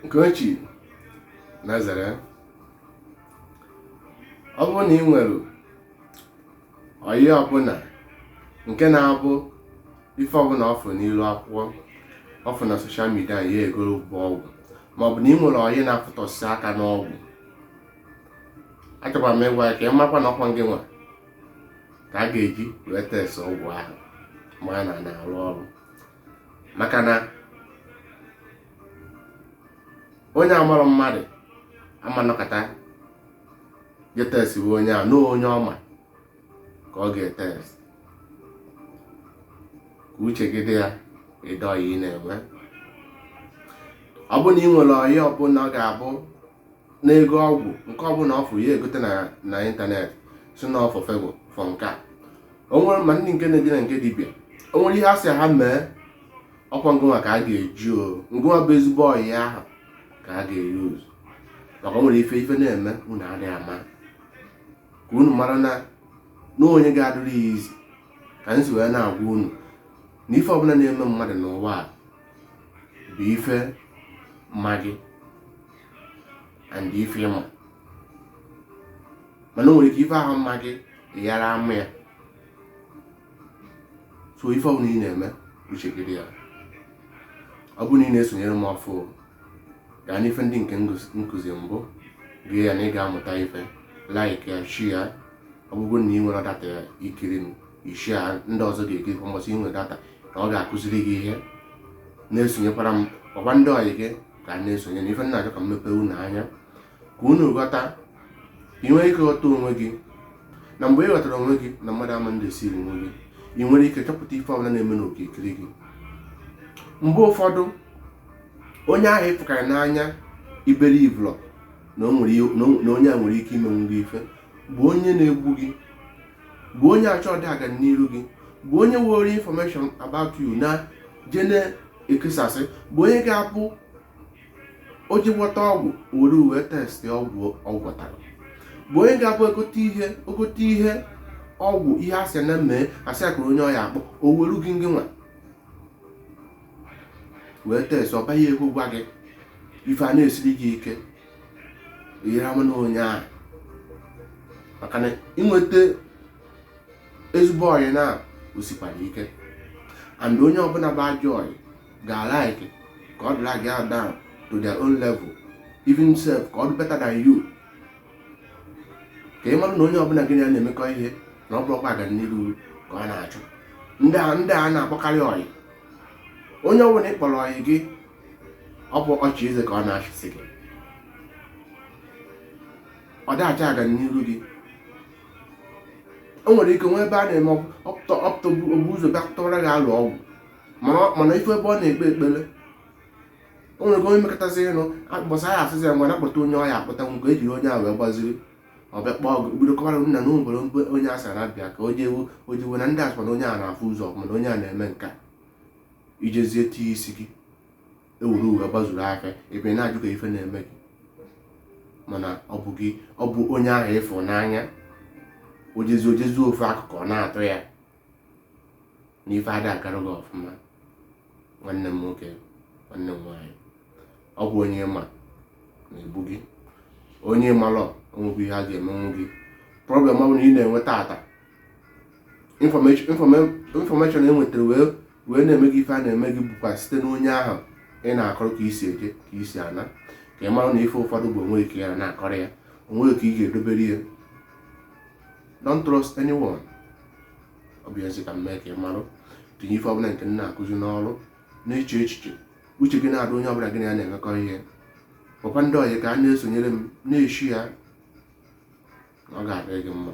Nkechi Nazare ọ bụrụ na ị nwere ọyị ọbụla nke na-abụ ife ọbụla ọ fụ n'ilu akwụkwọ ọ fụ na soshal midia ya egoro bụ ọgwụ maọbụ na ị nwere ọyị na-afụtọsị aka n'ọgwụ achọkwara m ịgwa ya ka ị makwa na ọ kwa gị nwa ka a ga-eji wee test ọgwụ ahụ ma na ọ na-arụ ọrụ maka na onye amarọ mmadụ ama nọkata je testiwe onye a na onye ọ ma ka ọ ga-etest ka uche gị dị ya ụdị ọyị ị na-enwe ọ bụ na ị nwere ọyị ọbụla ọ ga-abụ na-ego ọgwụ nke ọbụla ọ fụ ya egote na ịntanetị si na ọ fụ fego fụ nke a o nwere ma ndị nke na-eje na nke dibịa o nwere ihe a sị ha mee ọ kwa ngị nwa ka a ga-eji o ngị nwa bụ ezigbo ọyị ahụ ka a ga-euse maka o nwere ife na-eme unu adịghị ama ka unu mara na na o nwe onye ga-adụrụ ya izi ka anyị si wee na-agwa unu na ife ọbụla na-eme mmadụ n'ụwa a bụ ife ma gị and ife ị ma mana o nwere ike ife ahụ ma gị ị ghara ama ya so ife ọbụla ị na-eme uche gị dị ya ọ bụrụ na ị na-esonyere m ọfụ gaa n'ife ndị nke m kụzi mbụ gee ya na ị ga-amụta ife like ya share ya ọ bụrụ na ị nwere data ya i kiri m ị share ndị ọzọ ga-ekiri kwa mbọsị ị nwere data na ọ ga-akụziri gị ihe na-esonyekwara m kpọkwa ndị ọyị gị ka ha na-esonye na ife m na-achọ ka m mepee unu anya ka unu ghọta ka ị nwere ike ghọta onwe gị na mgbe ị ghọtara onwe gị na mmadụ ama deceive onwe gị ị nwere ike chọpụta ife ọbụla na-eme n'okirikiri gị mgbe ụfọdụ onye ahụ ị fụkarị n'anya ị believe na onye a enwerọ ike imenwu gị ife bụ onye na-egbu gị bụ onye achọ ọdị aga n'iru gị bụ onye were information about you na je na-ekesasị bụ onye ga-abụ o je gwọta ọgwụ were gị wee testị ọgwụ ọ gwọtara bụ onye ga-abụ o gote ihe ọgwụ ihe a sị ya mee a sị ya kụrụ onye ọ ya-akpọ o weru gị ngị nwa wee test ọba ya ego gwa gị ife a na-esiri gị ike ihere ama na onye ahụ maka na inweta ezigbo ọyị na osikwara ike and onye ọbụla bụ ajọ ọyị ga-like ka ọ dọla gị down to their own level even sef ka ọ dị better than you ka ị mara na onye ọbụla gị na ya na-emekọ ihe na ọ bụrọkwa ọganiru ka ọ na-achọ ndị a na-akpọkarị ọyị onye ọbụla ị kpọrọ ọyị gị ọ bụ ọchị eze ka ọ na-achịsị gị ọ dịghị achọ ọganiru gị o nwere ike nwee ebe a na-eme ọ pụta o bu ụzọ bịa tụwara gị alo ọgwụ mana ị fụ ebe ọ na-ekpe ekpere o nwere ike onye mekọtasị ịnụ akpọsa ya asịsị ya ngwa na-akpọta onye ọya akpọta nwoke ejiri onye ahụ wee gbaziri ọ bịa kpọọ gị bido kọwara nna na e nwere onye asara abịa ka o jewu o jewu na ndị asịkwa na onye a na-afụ ụzọ mana onye a na-eme nkea i jezie tinye isi gị e were wee gbazuru afịa ebe ị na-ajụ ka ife na-eme gị mana ọ bụ gị ọ bụ onye ahụ ị fụ n'anya o jezi o jezi ofu akụkụ ọ na-atọ ya na ife ada agara gị ọfụma nwanne m nwoke nwanne m nwaanyị ọ bụ onye ma na-egbu gị onye amalọ o nweghị ihe ọ ga-emenwu gị problem ọ bụla ị na-enwe taata information e nwetara wee na-eme gị ife a na-eme gị bụkwa site n'onye ahụ ị na-akọrọ ka i si eje ka i si ana ka ị mara na ife ụfọdụ bụ onwe gị ka ị na-akọrọ ya onwe gị ka ị ga-edobere ya don't trust anyone ọ bụ ezi ka m mee ka ị marụ tinye ife ọbụla nke m na-akụzi n'ọrụ na-eche echiche uche gị na-adị onye ọbụla gị na ya na-emekọ ihe papa ndị ọyị ka a na-esonyere m na-share ya ọ ga-adịrị gị mma